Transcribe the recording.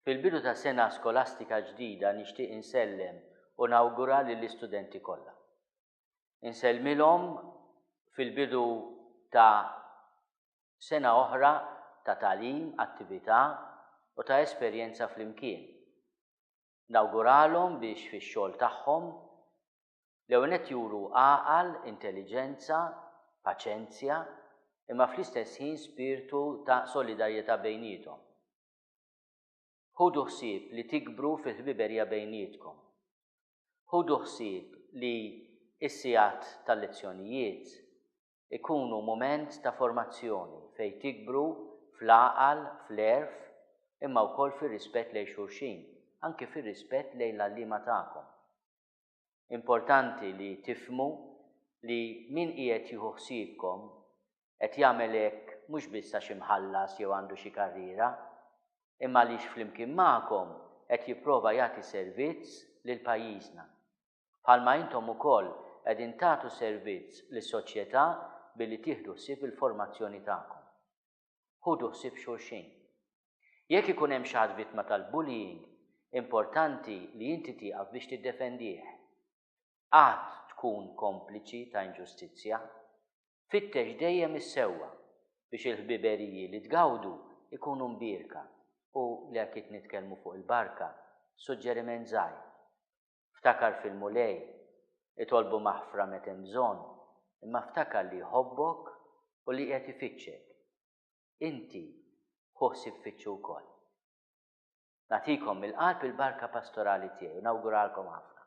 Fil-bidu ta' sena skolastika ġdida nixtieq insellem u nawgura lill-istudenti kollha. Insellmilhom fil-bidu ta' sena oħra ta' tagħlim, attività u ta' esperjenza flimkien. Nawguralhom biex fix-xogħol tagħhom l-ewwel nett juru għaqal, intelliġenza, paċenzja, imma fl-istess ħin spirtu ta' solidarjetà bejniethom. Ħudu ħsieb li tikbru fil-ħbiberija bejnietkom. Ħudu ħsieb li s-sigħat tal-lezzjonijiet ikunu mument ta' formazzjoni fejn tikbru fl-għaqal, fl-għerf, imma wkoll fir-rispett lejn xulxin, anki fir-rispett lejn l-għalliema tagħkom. Importanti li tifhmu li min qiegħed jieħu ħsiebkom qed jagħmel hekk mhux biss għax imħallas jew għandu xi karriera, imma għaliex flimkien magħkom qed jipprova jagħti servizz lil pajjiżna. bħalma intom ukoll qegħdin tagħtu servizz lis-soċjetà billi tieħdu ħsieb il-formazzjoni tagħkom. Ħudu ħsieb xulxin. Jekk ikun hemm xi ħadd vittma tal-bullying, importanti li inti tieqaf biex tiddefendih. Qatt tkun kompliċi ta' inġustizzja. Fittex dejjem is-sewwa biex il-ħbiberiji li tgawdu ikunu mbierka u li akit nitkellmu fuq il-barka, suġġeriment żgħir. Ftakar fil-Mulej, itolbu maħfra meta hemm bżonn, imma ftakar li jħobbok u li qiegħed ifittxek. Inti ħu ħsieb fittxu wkoll. Nagħtikom mill-qalb il-barka pastorali tiegħi u nawguralkom ħafna.